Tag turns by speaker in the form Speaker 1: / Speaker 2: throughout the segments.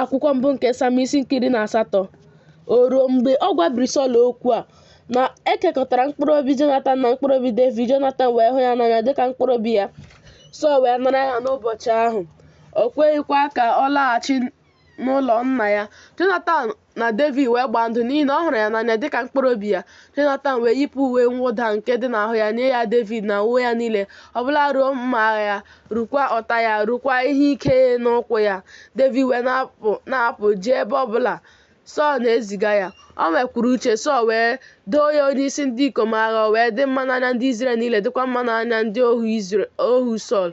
Speaker 1: akwụkwọ mbụ nke sam isi nke iri na asatọ o ruo mgbe ọ gwabiri sọl okwu a na ekekọtara mkpụrụ obi jonatan na mkpụrụ obi devid jonatan wee hụ ya n'anya dịka mkpụrụ obi ya sọl wee nara ya n'ụbọchị ahụ o kweghịkwa ka ọ laghachi n'ụlọ nna ya jonatan na Devid wee gbaa ndụ n'ihi na ọ hụrụ ya n'anya dịka mkpụrụ obi ya. Jonatan wee yipụ uwe mwụda nke dị n'ahụ ya nye ya Devid na uwe ya niile, ọbụla ruo mma agha ya, rukwa ụta ya, rukwa ihe ike n'ukwu ya. Devid wee na-apụ jee ebe ọbụla Sọl na-eziga ya. O nwekwuru uche, Sọl wee Doo ya onyeisi ndị ikom agha, o wee dị mma n'anya ndị Izrel niile, dịkwa mma n'anya ndị ohu Sọl.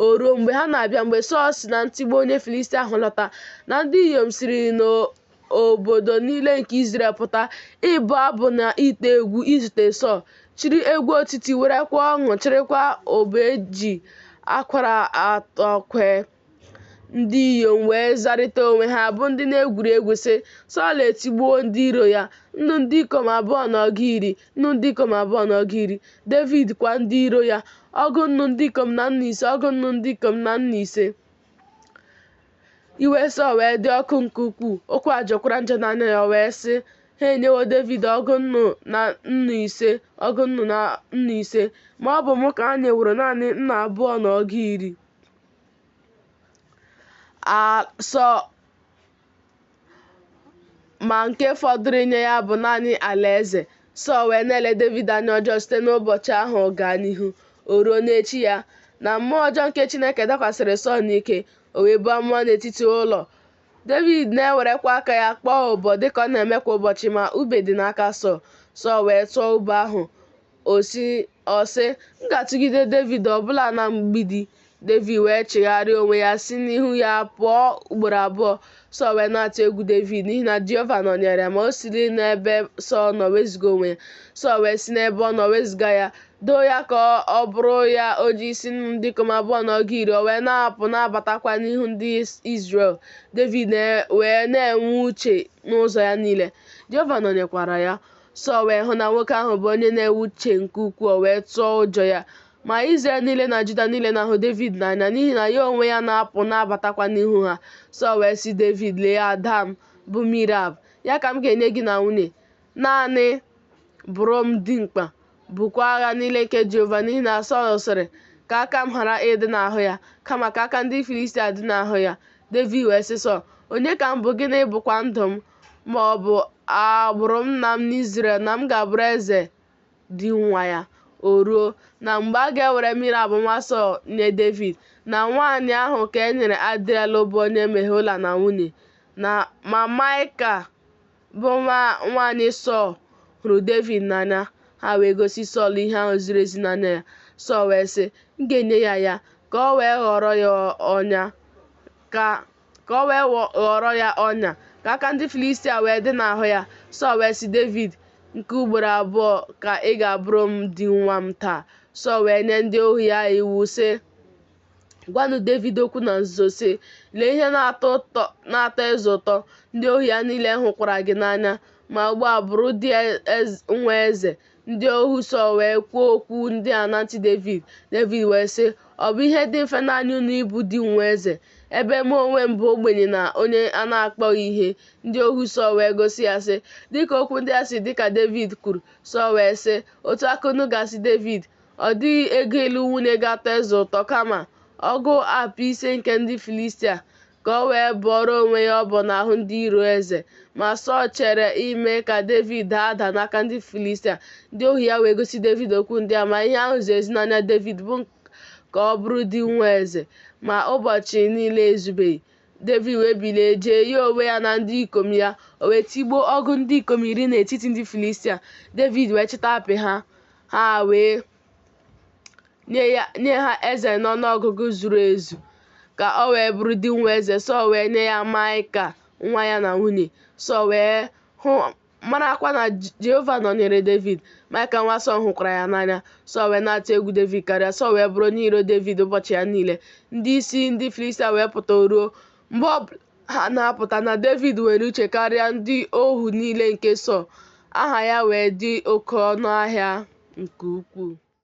Speaker 1: O ruo, mgbe ha na-abịa, mgbe Sọl si na ntigbu onye Filistia ahụ lọta, na ndị inyom siri n'obodo niile nke Izrel pụta ịbụ abụ na ite egwu izute Sọl, chịrị egwu otiti, werekwa ọṅụ chịrịkwa ụbọ e ji akwara atọ kwee. Ndị inyom wee zarịta onwe ha bụ ndị na-egwuri egwu sị, Sọl etigbuo ndị iro ya, nnu ndị ikom abụọ na ọgụ iri, nnu ndị ikom abụọ na ọgụ iri, Devid kwa ndị iro ya, ọgụ nnu ndị ikom na nnu ise, ọgụ nnu ndị ikom na nnu ise. Iwe Sọl wee dị ọkụ nke ukwuu, okwu a jọkwara njọ n'anya ya, o wee sị, Ha enyewo Devid ọgụ nnu na nnu ise, ọgụ nnu na nnu ise, ma ọ bụ mụ ka ha nyeworo naanị nnu abụọ na ọgụ iri. a sọ ma nke fọdụrụ inye ya bụ naanị alaeze sọl wee na-ele devid anya ọjọọ site n'ụbọchị ahụ gaa n'ihu o ruo n'echi ya na mmụọ ọjọọ nke chineke dakwasịrị sọl n'ike o wee buo amụma n'etiti ụlọ devid na-ewerekwa aka ya kpọọ ụbọ dịka ọ na-eme kwa ụbọchị ma ube dị n'aka sọl sọl wee tụọ ube ahụ ọ sị Ọ sị, M ga-atụgide Devid ọbụla na mgbidi. Devid wee chigharịa onwe ya si n'ihu ya pụọ ugboro abụọ. Sọl wee na-atụ egwu Devid n'ihi na Jehova nọnyeere ya, ma o siri n'ebe Sọl nọ wezuga onwe ya. Sọl wee si n'ebe ọ nọ wezuga ya, doo ya ka ọ bụrụ ya onyeisi nnu ndị ikom abụọ na ọgụ iri, o wee na-apụ na-abatakwa n'ihu ndị Izrel. Devid wee na-enwe uche n'ụzọ ya niile, Jehova nọnyekwara ya. Sọl wee hụ na nwoke ahụ bụ onye na-enwe uche nke ukwuu, o wee tụọ ụjọ ya. Ma Izrel niile na Juda niile na-ahụ Devid n'anya n'ihi na ya onwe ya na-apụ na-abatakwa n'ihu ha. Sọl wee sị Devid, Lee ada m, bụ Mirab, ya ka m ga-enye gị na nwunye. Naanị bụrụ m dimkpa, bukwa agha niile nke Jehova, n'ihi na Sọl sịrị, Ka aka m ghara ịdị n'ahụ ya, kama ka aka ndị Filistia dị n'ahụ ya. Devid wee sị Sọl, Onye ka m bụ, gịnị bụkwa ndụ m? ma ọ bụ agbụrụ nna m n'Izrel na m ga-abụrụ eze di nwa ya. O ruo, na mgbe a ga-ewere Merab nwa Sọl nye Devid, na nwaanyị ahụ ka e nyere Adriel bụ onye Mehola na nwunye, na ma Maịka bụ nwa nwaanyị Sọl hụrụ Devid n'anya, ha wee gosi Sọl ihe ahụ ziri ezi n'anya ya. Sọl wee sị, M ga-enye ya ya, ka o wee ghọrọ ya ọnya, ka ka o wee ghọrọ ya ọnya ka aka ndị Filistia wee dị n'ahụ ya Sọl wee sị Devid nke ugboro abụọ ka ị ga-abụrụ m di nwa m taa Sọl wee nye ndị ohu ya iwu sị gwanụ Devid okwu na nzuzo sị lee ihe na-atọ eze ụtọ ndị ohu ya niile hụkwara gị n'anya ma ugbu a bụrụ di e, nwa eze Ndị ohu Sọl wee kwuo okwu ndị a na ntị Devid. Devid wee sị, Ọ bụ ihe dị mfe n'anya unu ịbụ di nwa eze, ebe mụ onwe m bụ ogbenye na onye a na-akpọghị ihe. Ndị ohu Sọl wee gosi ya sị, Dịka okwu ndị a si dị ka Devid kwuru. Sọl wee sị, Otu a ka unu ga-asị Devid, ọ dịghị ego ịlụ nwunye ga-atọ eze ụtọ kama ọgụ apị ise nke ndị Filistia. ka o wee bọọrọ onwe ya ọbọ n'ahụ ndị iro eze. Ma Sọl chere ime ka Devid daa ada n'aka ndị Filistia. Ndị ohu ya wee gosi Devid okwu ndị a, ma ihe ahụ ziri ezi n'anya Devid bụ ka ọ bụrụ di nwa eze. Ma ụbọchị niile ezubeghị. Devid wee bilie jee ya onwe ya na ndị ikom ya, o wee tigbuo ọgụ ndị ikom iri n'etiti ndị Filistia. Devid wee chịta apị ha, ha wee nye ya nye ha eze n'ọnụọgụgụ zuru ezu ka ọ wee bụrụ di nwa eze Sọl wee nye ya Maịka nwa ya na nwunye Sọl wee hụ marakwa na Je- Jehova nọnyere Devid Maịka nwa Sọl hụkwara ya n'anya Sọl wee na-atụ egwu Devid karịa Sọl wee bụrụ onye iro Devid ụbọchị ya niile ndị isi ndị Filistia wee pụta o ruo mgbe ọ ha na-apụta na Devid nwere uche karịa ndị ohu niile nke Sọl, aha ya wee dị oke ọnụ ahịa nke ukwuu.